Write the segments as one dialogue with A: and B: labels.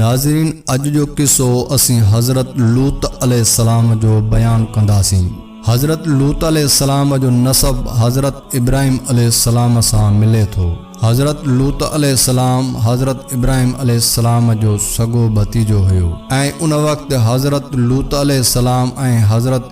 A: ناظرين اڄ جو قصو اسين حضرت لوط عليه السلام جو بيان ڪنداسين. حضرت لوط عليه السلام جو نسب حضرت ابراهيم عليه السلام سان ملي ٿو. حضرت لوط عليه السلام حضرت ابراهيم عليه السلام جو سڳو ڀتيجو هيو ۽ ان وقت حضرت لوط عليه السلام ۽ حضرت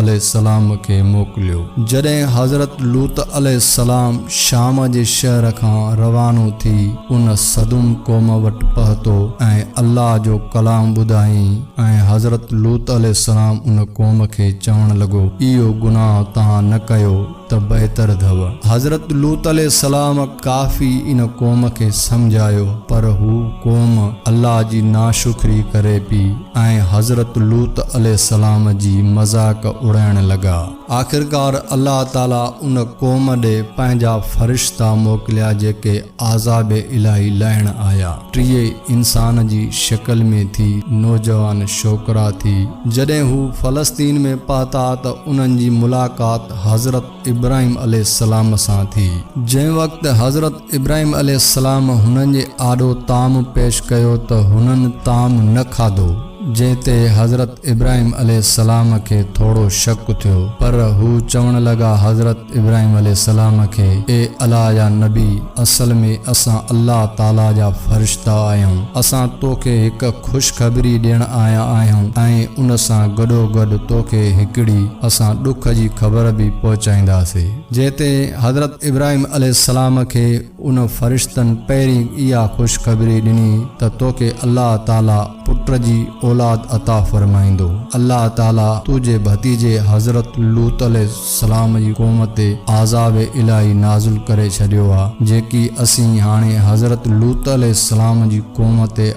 A: عليه السلام کي موڪليو. جڏهن حضرت لوط عليه السلام شام جي شهر کان روانو ٿي ان سدوم قوم وٽ پهتو ۽ الله جو ڪلام ٻڌائين ۽ حضرت لوط عليه السلام ان قوم کي چوڻ لڳو اهو گناهه توهان نه ڪيو، ته بهتر اٿو. حضرت لوط عليه السلام ڪافي ان قوم کي سمجهايو پر هو قوم الله جي ناشڪري ڪري پي ۽ حضرت لوط عليه السلام جي مذاق اڙائڻ لڳا. آخرڪار الله تعالي ان قوم ڏي پنهنجا فرشتا موڪليا جيڪي عذاب الاھي لاھڻ آيا. ٽيئي انسان جي شڪل ۾ ٿي، نوجوان شوڪرا ٿي. جڏھن ھو فلسطين ۾ پھتا ته انھن جي ملاقات حضرت ابراھيم عليه السلام سان ٿي. جنھن وقت حضرت ابراھيم عليه السلام ھنن جي آڏو طعام پيش ڪيو ته ھنن طعام نه کاڌو. جنهن تي حضرت ابراهيم عليه السلام کي ٿورو شڪ ٿيو پر هو چوڻ لڳا حضرت ابراهيم عليه السلام کي اي الا يا نبي اصل ۾ اسان الله تعاليٰ جا فرشتا آهيون اسان توکي هڪ خوشخبري ڏيڻ آيا آهيون ۽ ان سان گڏوگڏ توکي هڪڙي اسان ڏک جي خبر به پهچائينداسي جنهن تي حضرت ابراهيم عليه السلام کي ان فرشتن پهرين اها خوشخبري ڏني ته توکي الله تعاليٰ پٽ جي اولاد عطا فرمائيندو. الله تعاليٰ تنهنجي ڀتيجي حضرت لوط عليه السلام جي قوم تي عذاب الاهي نازل ڪري ڇڏيو آهي، جيڪي اسين هاڻي حضرت لوط عليه السلام جي قوم تي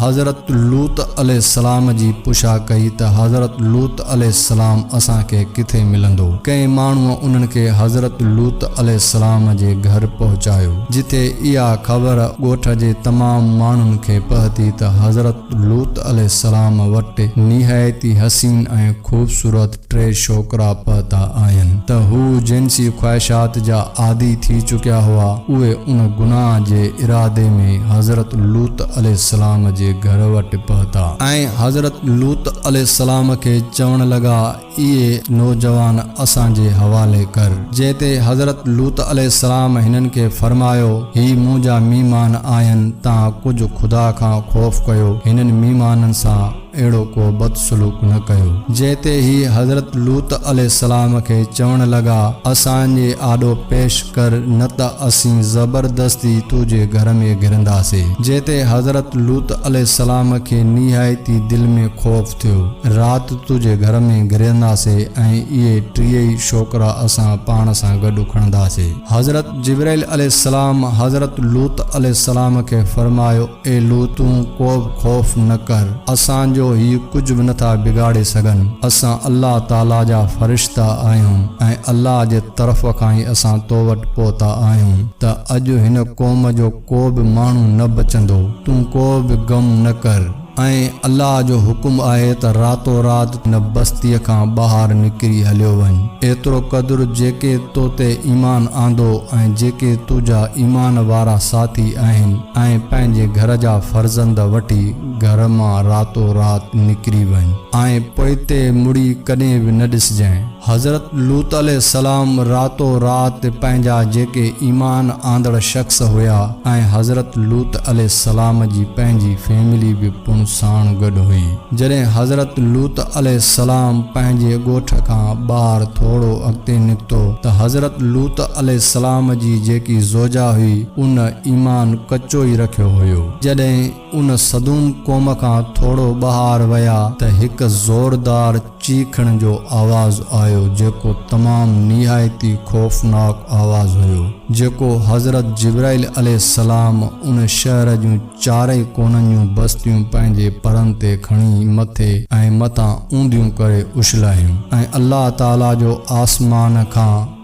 A: حضرت لوط عليه السلام جي پڇا ڪئي ته حضرت لوط عليه السلام اسان کي ڪٿي ملندو؟ ڪنهن ماڻهوء انهن کي حضرت لوط عليه السلام جي گهر پهچايو، جتي اها خبر ڳوٺ جي تمام ماڻهن کي پهتي ته حضرت لوط عليه السلام وٽ نهايت ئي حسين ۽ خوبصورت ٽي ڇوڪرا پهتا آهن ته هو جنسي خواهشات جا عادي ٿي چڪيا هئا، اهي ان گناهه جي ارادي ۾ حضرت لوط عليه السلام جي گهر وٽ پهتا ۽ حضرت لوط عليه السلام کي چوڻ لڳا اهي نوجوان اسان جي حوالي ڪر، جنهن تي حضرت لوط عليه السلام هنن کي فرمايو هي منهنجا ميمان آهن تان ڪجهه خدا کان خوف ڪيو هنن ميمانن سان. اهڙو ڪو بد سلوڪ نه ڪيو. جنهن تي هي حضرت لوط عليه السلام کي چوڻ لڳا، اسان جي آڏو پيش ڪر نه ته اسين زبردستي تو جي گهر ۾ گهرنداسين. جنهن تي حضرت لوط عليه السلام کي نهايتي دل ۾ خوف ٿيو. رات تو جي گهر ۾ گهرنداسين ۽ اهي ٽيئي شوڪرا اسان پاڻ سان گڏ کڻنداسين. حضرت جبرائيل عليه السلام حضرت لوط عليه السلام کي فرمايو، اي لوط تون ڪوبه خوف نه ڪر، اسان جو هي ڪجهه به نٿا بگاڙي سگهن، اسان الله تعاليٰ جا فرشتا آهيون ۽ الله جي طرف کان ئي اسان تو وٽ پهتا آهيون ته اڄ هن قوم جو ڪوبه ماڻهو نه بچندو، تون ڪوبه غم نه ڪر. ۽ الله جو حڪم آهي ته راتو رات تون هن بستيء کان ٻاهر نڪري هليو وڃ، ايترو قدر جيڪي تو تي ايمان آندو ۽ جيڪي تنهنجا ايمان وارا ساٿي آهن، ۽ پنهنجي گهر جا فرزند وٺي گهر مان راتو رات نڪري وڃ ۽ پوئتي مڙي ڪڏهن به نه ڏسجانء. حضرت لوط عليه السلام راتو رات پنهنجا جيڪي ايمان آندڙ شخص هيا ۽ حضرت لوط عليه السلام جي پنهنجي فيملي به پڻ ساڻ گڏ هئي. جڏهن حضرت لوط عليه السلام پنهنجي ڳوٺ کان ٻاهر ٿورو اڳتي نڪتو ته حضرت لوط عليه السلام جي جيڪي زوجا هئي، ان ايمان ڪچو ئي رکيو هيو. جڏهن ان صدوم قوم کان ٿورو ٻاهر ويا ته هڪ زوردار چيخڻ جو آواز آيو جيڪو تمام نهايت ئي خوفناڪ آواز هيو جيڪو حضرت جبرائيل عليه السلام ان شهر جون چارئي ڪونن جون بستيون پنهنجي پرن تي کڻي مٿي ۽ مٿان اونڌيون ڪري اڇلايون ۽ الله تعالي جو آسمان کان